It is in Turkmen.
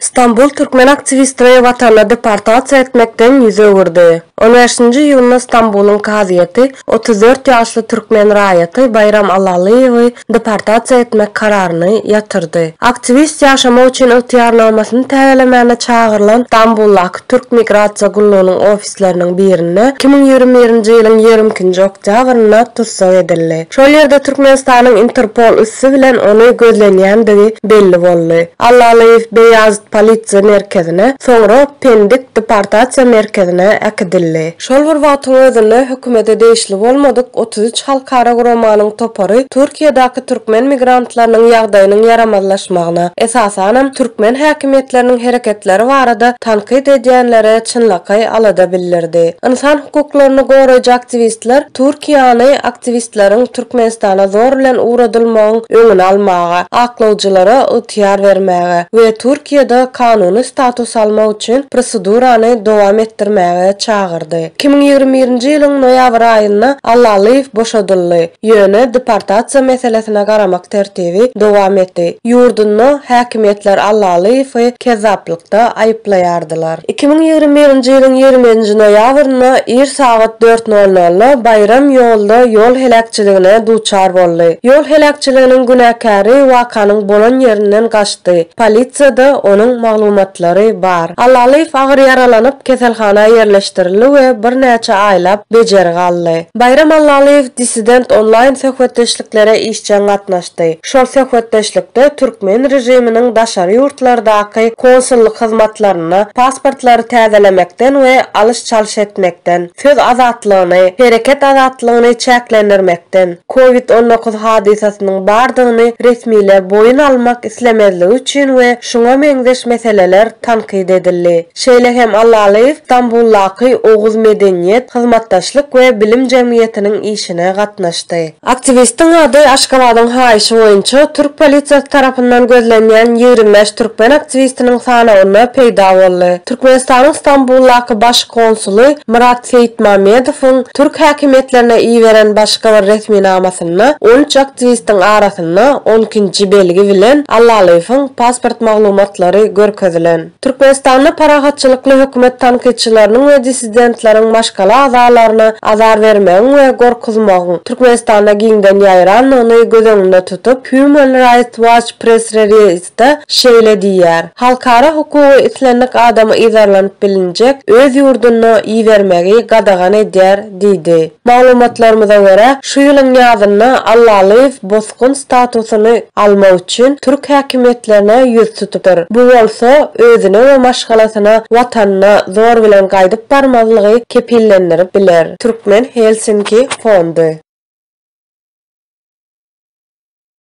Stambul türkmen aktiwistini watanyna deportasiýa etmekden ýüz öwürdi. On bäşinji iýunda Stambulyň kazyýeti otuz dört ýaşly türkmen raýaty Baýram Allalyýewi deportasiýa etmek kararyny ýatyrdy. Aktiwist ýaşamak üçin ygtyýarnamasyny täzelemäne çagyrylan Stambuldaky türk migrasiýa gullugynyň ofisine mejlisleriniň birinde iki müň ýigrimi birinji ýylyň ýigrimi ikinji oktýabrynda tussag edildi. Şol ýerde Türkmenistanyň Interpol üsti bilen ony gözlenýändigi belli boldy. Allalyýew Beýazit polisiýa merkezine, soňra Pendik deportasiýa merkezine äkidildi. Şol bir wagtyň özünde hökümete degişli bolmadyk otuz üç halkara guramanyň topary Türkiýedäki türkmen migrantlarynyň ýagdaýynyň ýaramazlaşmagyna, esasanam, türkmen häkimiýetleriniň hereketleri barada tankyt edýänlere çynlakaý alada bildirdi. Ynsan hukuklaryny goraýjy aktiwistler Türkiýäni aktiwistleriň Türkmenistana zor bilen ugradylmagyň öňüni almaga, aklawjylara ygtyýar bermäge we Türkiýede kanuny status almak üçin prosedurany dowam etdirmäge çagyrdy. Iki müň ýigrimi birinji ýylyň noýabr aýynda Allalyýew boşadyldy. Ýöne deportasiýa meselesine garamak tertibi dowam etdi. Ýurdunda häkimiýetler Allalyýewi kezzaplykda aýyplaýardylar. Iki müň ýigrimi birinji ýylyň ýigriminji noýabrynda ir sagat dört nol nolda Baýram ýolda ýol heläkçiligine duçar boldy. Ýol heläkçiliginiň günäkäri wakanyň bolan ýerinden gaçdy. Polisiýada onuň maglumatlary bar. Allalyýew agyr ýaralanyp, keselhana ýerleşdirildi we birnäçe aýlap bejergi aldy. Baýram Allalyýew Dissident onlaýn söhbetdeşliklere işjeň gatnaşdy. Şol söhbetdeşlikde türkmen režiminiň daşary ýurtlardaky konsullyk hyzmatlarynda pasportlary täzelemekden we alyş-çalyş etmekden, söz azatlygyny, hereket azatlygyny çäklendirmekden, covid on dokuz hadysasynyň bardygyny resmiler boýun almak islemezligi üçin we şuňa meňzeş meseleler tankyt edildi. Şeýle hem Allalyýew Stambuldaky Oguz medeniýet, hyzmatdaşlyk we bilim jemgyýetiniň işine gatnaşdy. Aktiwistiň ady Aşgabadyň haýyşy boýunça türk polisiýasy tarapyndan gözlenýän ýigrimi bäş türkmen aktiwistiniň sanawynda peýda boldy. Türkmenistanyň Stambuldaky baş konsuly Myrat Seýitmamedowyň türk häkimiýetlerine iberen başga bir resminamasynda on üç aktiwistiň arasynda Şahadatnama on ikinji belgi bilen Allalyýewiň pasport maglumatlary görkezilen. Türkmenistanda parahatçylykly hökümet tankytçylarynyň we dissidentleriň maşgala agzalaryna azar bermegiň we gorkuzmagyň Türkmenistanda giňden ýaýrandygyny göz öňünde tutup, Human Rights Watch press-reliz, Aýtda şeýle diýýär, Halkara hukugy islendik adamy yzarlanyp bilinjek öz ýurduna ibermegi gadagan edýär diýdi. Maglumatlarymyza görä, şu ýylyň ýazynda Allalyýew bosgun statusyny almak üçin türk häkimiýetlerine ýüz tutudyr. Bu bolsa özüne we maşgalasyna watanyna zor bilen gaýdyp barmazlygy kepillendirip biler. Türkmen Helsinki fondy.